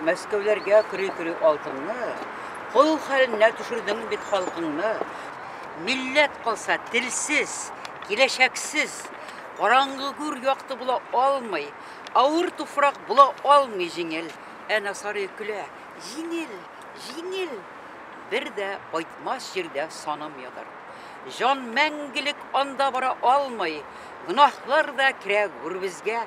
Мәскәүләргә көрәй-көрәй алтынны, Кол хәленә төшердең бит халкыңны. Милләт калса телсез, киләчәксез, Караңгы гүр якты була алмый, Авыр туфрак була алмый җиңел. Ә Насарый көлә, җиңел, җиңел, Бер дә кайтмас җирдә саным ятыр. Җан мәңгелек анда бара алмый, Гөнаһлар да керә гүребезгә,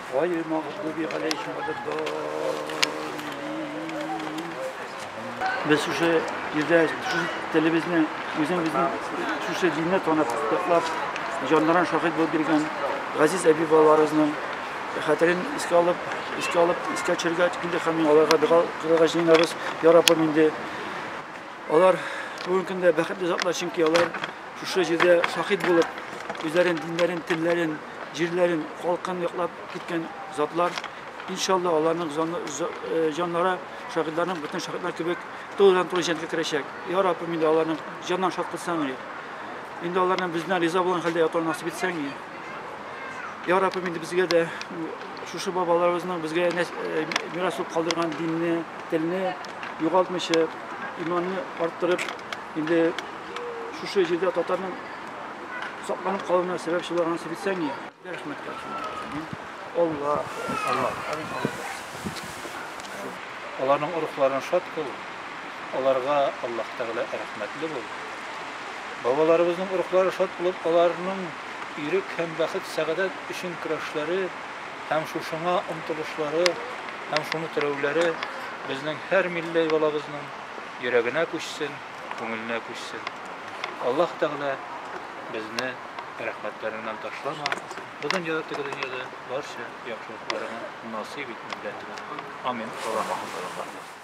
Гайрил магъдуби галәйһим вәләддаллин. Без шушы җирдә шушы телебезне, үзебезнең шушы динне танып, яклап, җаннарын шаһит булып биргән газиз әби балаларыбызның хәтерен искә алып, искә алып, искә төшерергә инде һәм аларга дога кылырга җыенабыз. Я Раббым инде алар бүгенге көндә бәхетле затлар, чөнки алар шушы җирдә шаһит булып, үзләрен, диннәрен, телләрен, җирләрен, халкын яклап киткән затлар. Иншалла, аларның җаннары шаһитларның бөтен шаһитлар кебек тулыдан-тулы җәнлеккә керәчәк. Я Раббым, инде аларның җаннарын шат кылсаң, инде аларның бездән риза булган хәлдә ятуын насыйп итсәң, Я Раббым, инде безгә дә шушы бабаларыбызның безгә мирас булып калдырган динне, телне югалтмыйча, иманны арттырып, инде шушы җирдә татарның сакланып калуына сәбәпче булган Севицәния. Рәхмәт кылсын. Алла, Алла, Аларның урухларын шат кыл. Аларга Аллаһ Тәгалә рәхмәтле бул. Бабаларыбызның урухлары шат булып, аларның ирек һәм бәхет сәгадәт өчен көрәшләре һәм шушыңа омтылышлары һәм шуны терәүләре безнең һәр милли балабызның йөрәгенә күчсен. күңеленә күчсен. Аллаһ Тәгалә безне рәхмәтләреннән ташлама, бу дөньяда теге дөньяда барча яхшылыкларыңа насыйп ит милләтебезгә. Амин. Аллаһ рәхмәтләрен ташласын.